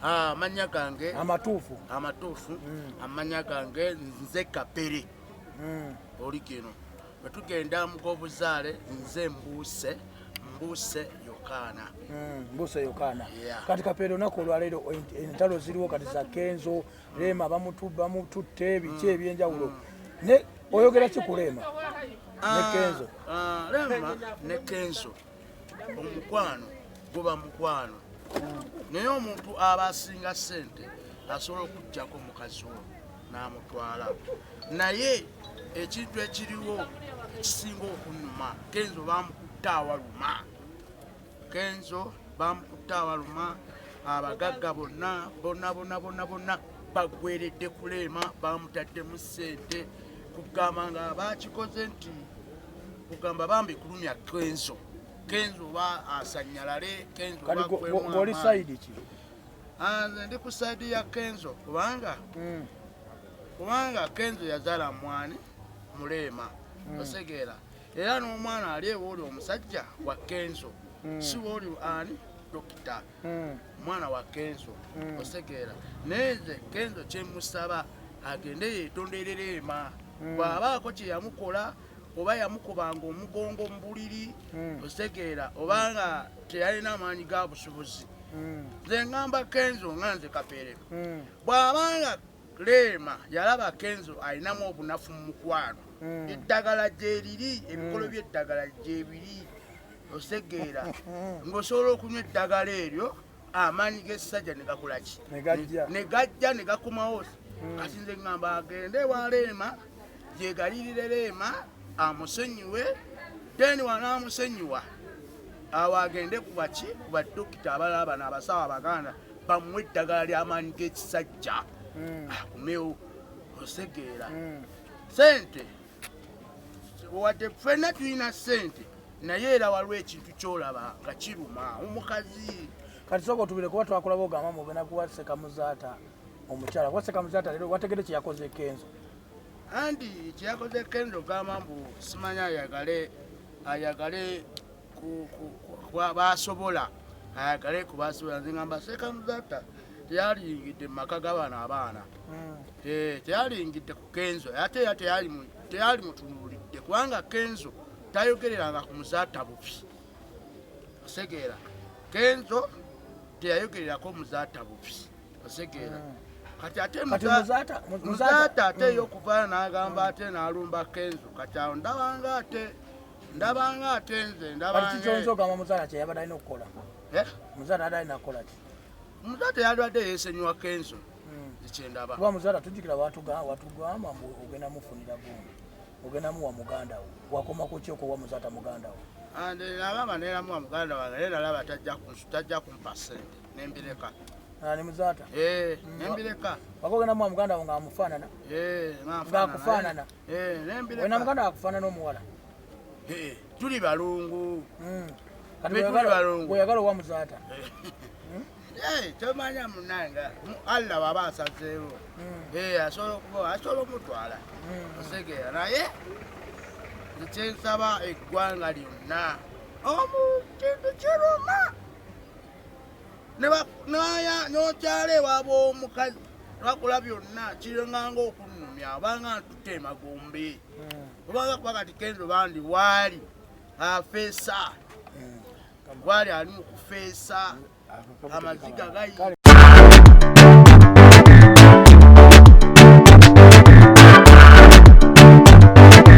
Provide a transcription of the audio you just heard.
amanya ah, gange amatuufu amatuufu mm. amanya gange nze kapere mm. oli kino bwetugenda mugobuzaale nze mbuuse mbuuse yokaana mm, mbuuse yokaana kati kapere olunaku olwaleero entalo ziriwo kati za kenzo Rema bamututte biki mm. ebyenjawulo ne oyogera ki ku Rema ah, ne Kenzo? Ah, Rema ne Kenzo omukwano guba mukwano naye omuntu aba asinga sente asobola okujjako mukazi wo n'amutwala naye ekintu ekiriwo ekisinga okunuma Kenzo bamukutte awaluma kenzo bamukutte awaluma abagagga bonna bonna bonna bonna bonna bagweredde kuleema bamutaddemu ssente kugamba nga bakikoze nti kugamba bambi kulumya kenzo kenzo oba asanyalale kenzo oli saidi ki ah, nze ndi ku saidi ya kenzo kubanga hmm. kubanga kenzo yazala mwani muleema hmm. osegeera mm. era n'omwana ali ewe oli omusajja wa kenzo hmm. si wooli ani dokita hmm. omwana wa kenzo hmm. osekeera naye nze kenzo kyemusaba agende yetonderera ema bw'abaako kye yamukola oba yamukubanga omugongo mu buliri osekeera oba nga teyalina amaanyi ga busubuzi nze ngamba kenzo nga nze kapeere bw'abanga Leema yalaba Kenzo alinamu obunafu mu mukwano. Hmm. Eddagala gyeriri, ebikolo hmm. by'eddagala gyebiri osegeera hmm. ng'osobola okunywa eddagala eryo amaanyi g'essajja ne gakola ki ne gajja ne gakomawo kati nze ŋŋamba agende ewa Leema gyegalirire Leema amusonyiwe then wanaamusonyiwa awo agende ku baki ku badokita abalala bano abasawo abaganda bamuwa eddagala ly'amaanyi g'ekisajja hmm. akumewo ah, osegeera hmm. sente wadde ffenna tulina sente naye era waliwo ekintu kyolaba nga kiruma omukazi kati soka otubire kuba twakulaba ogamba mubena kuwa sekamuzaata omukyala kuba sekamuzaata lero wategede kyeyakoze kenzo andi kyeyakoze kenzo ogamba mbu simanya ayagale ayagale basobola ayagale kubasobola nze ngamba sekamuzata teyalingidde mumaka gabano abaana hmm. eh, teyalingidde ku kenzo ate era teyali mutunulidde kubanga kenzo tayogereranga ku muzaata bubi osegeera kenzo teyayogererako muzaata bubi osegeera hmm. kati ate muzaata ate eyokuvayo hmm. nagamba ate nalumba kenzo kati awo ndabanga ate ndabanga ate nze ndabangakikyonzogamba muzaala kyeyabadde alina okukola eh? muzaala adde alina kukola ki muzaala teyalwadde yesenyiwa kenzo hmm. ekyendaba kuba muzaala tujjukira watugamba mbu ogenda mufunira gundi ogenda muwa muganda wo wakoma ku kyoko wa muzaata muganda wo ande nabanga neramuwa muganda wange naye nalaba tajja kumpa sente nembireka ani muzaata eh, hmm. nembireka waka ogenda muwa muganda wo ngaamufaanana eh, ngaakufaanana Eh, wena muganda wakufanana omuwala eh, tuli balungu hmm. oyagala owa muzaata eh, tomanya munanga allah waba asazeewo hmm. asobola okuba asobola omutwala hmm. osegeera naye ekyensaba eggwanga lyonna omu kintu kiruma nokyala ewaba omukazi lwakula byonna kirenganga okunumya obanga ntutte emagombe hmm. obanga kuba kati kenzo bandi waali afeesa hmm. waali ali mu kufeesa hmm. amaziga gayi